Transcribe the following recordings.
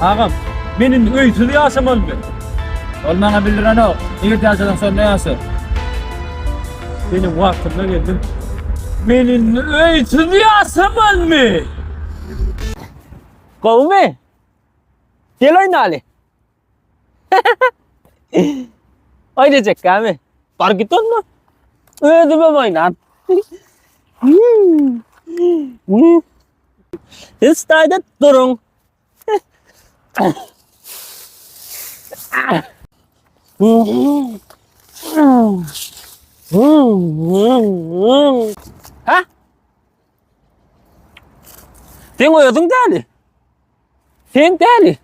Agam, men indi öýsüz ýaşamalymy? Ol maňa bildirenok. Nirede ýaşasaň, şonda ýaşa. Seniň wagtyňda geldim. Men indi öýsüz ýaşamalymy? Gowymy? Gel oýnaly. Oýnajak gami. Bar git onda. Özüme oýnan. Hiç dayda durun. Ha? Sen özün däli. Sen däli.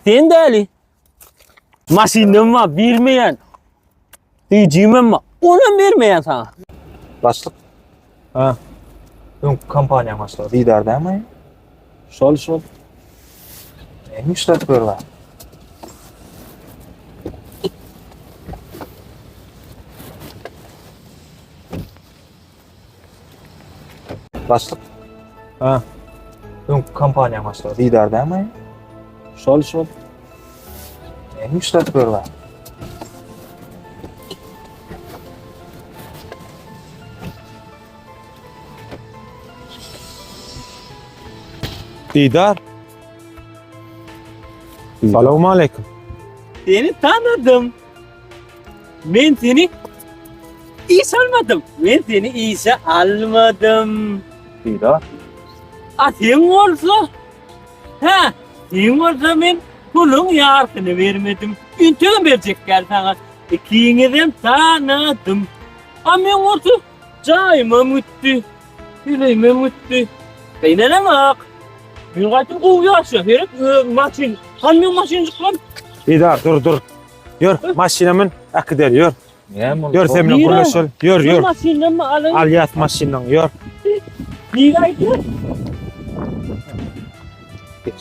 Sen däli. Maşyndan var, bilmeyen. Diyeceğimem var. Ona vermeyen sana. Başlık. Ha. Ön kampanya başlığı. Didar değil mi? Şol şol. Neymiş de böyle. Başlyk. Ha. Öň kompaniýa başlygy Didar dämi? Şol şol. Näme işläp berýär? Didar. Salam aleyküm. Seni tanıdım. Men seni iş almadım. Men seni işe almadım. Diýdi. A sen bolsa? Ha, sen bolsa men puluň ýarsyny bermedim. Integem berjek däl saňa. Ikiňizem tanadym. A men bolsa jaýymam gitdi. Ýüregimem gitdi. Gynalamok. Men gaýtam gowy ýaşa. Gerek maşyn, kamýon maşynjyklar. Bedar dur dur. Ýör, maşyna mün, äkider, ýör. Ýör sen bilen gürleşel. Ýör, ýör. Maşyndanmy alyň? Alýas maşyndan, ýör. Nirä gidiň? Geç.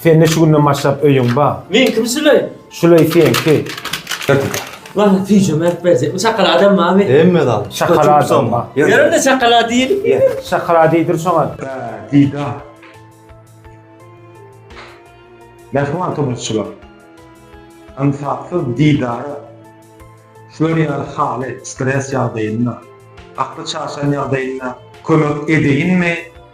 Sende şu günden başlap öýüň bar. Meňkimi şuleý? Şuleý seňki. Wah, süýjem berip berjekmi? Şokoladam barmy? Hemme zat. Şokoladam bar. Ýörende şokolad diýelim. Şokolad iýdir şoňa. Diýda. Mähriban tomaşaçylar. Ynsapsyz Didara şular ýaly haly, stres ýagdaýynda, akly çaşan ýagdaýynda kömek edeýinmi?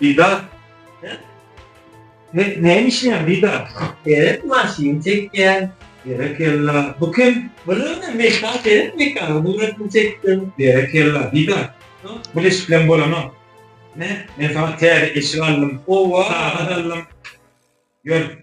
Didar. Ne, näme işleýän Didar? Gerek maşyn çekýän. Berekella. Bu kim? Bilmem, Mekga gerek Mekganyň suratyn çekdim. Berekella, Didar. Bul eşik bilen bolanok. Ne? Men saňa täze eşik aldym. Owa! Sagat aldym. Ýör.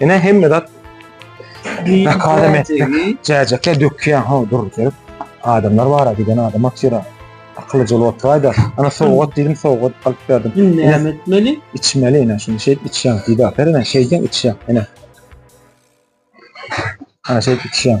Ene hemme zat Nakadam etdik. Cäjekler dökýän ha dur gelip. Adamlar bara giden adam atyra. Akylly jol otraýda. Ana sowgat diýdim, sowgat alyp berdim. Indi Ene näme etmeli? içmeli ene şunu şeýt içýän. Diýdi atar ene şeýdýän içýän ene. Ana şeýt içýän.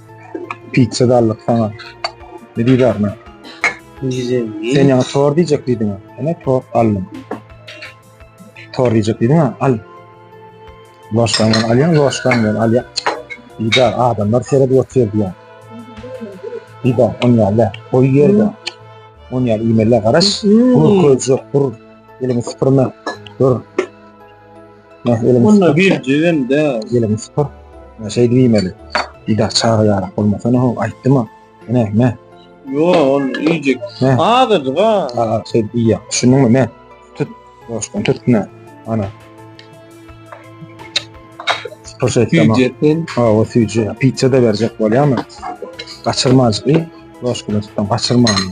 Pizza dallyk sana. Ne diýär men? Güzel. Sen ýa tor diýjek diýdiň. Ene tor aldım. Tor diýjek diýdiň ha, al. Loşdan gel, alýan loşdan gel, alýan. Diýär, adamlar seredip otyr diýär. Diýär, on ýerde, goý ýerde. On ýerde iýmeli garaş. Bu köjek, bu elini süpürme. Dur. Onda bir cüven de. Gelin spor. Şey diýmeli. Ida çaga yarak olmasa ne ol aýtdyma. Ne ne. Yo on iýjek. Azajyk ha. Aa şey diýýär. Düşündin ne? Tut. Boşdan tut ne. Ana. Spor şey tamam. Süýjetden. Ha o süýje. Pizza da berjek bolýarmy? Gaçyrmazdy. Boşdan tutdan gaçyrmany.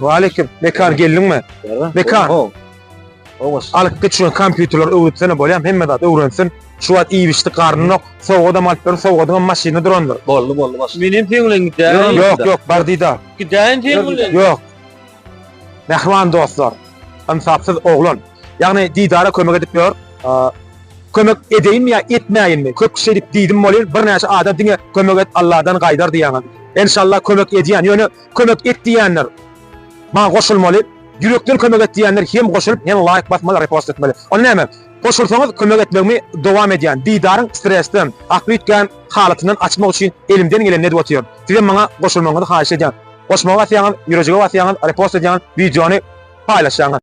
Waleyküm. Bekar geldiňmi? Bekar. Alyp geç şu kompýuterler öwretsene bolýam, hemme zat öwrensin. Şu wagt iýip içdik garnynok. Sowgat hem alyp ber, sowgadyň hem maşyny durandyr. Boldy, boldy başga. Menem seň bilen gidäýin. Ýok, ýok, bar diýdi. Gidäýin seň bilen. Ýok. Mähriban dostlar, ynsapsyz oglan, ýagny Didara kömek edip ýör. Kömek edeýinmi ýa etmäýinmi? Köp kişi edip diýdim welin, birnäçe adam diňe kömek et, Alladan gaýdar diýýäňiz. Enşalla kömek edýän, ýöne kömek et diýýänler maňa goşulmaly. Ýürekden kömek et diýýänler hem goşulyp, hem laýk basmaly, repost etmeli. Onda näme? Goşulsaňyz kömek etmegimi dowam edýän. Didaryň stresden, gapytgan halatyndan açmak üçin elimden geleni edip otyryn. Sizem maňa goşulmagyňyzy haýyş edýän. Goşmaga basýaňyz, ýürejige basýaňyz, repost edýäňiz, wideony paýlaşýaňyz.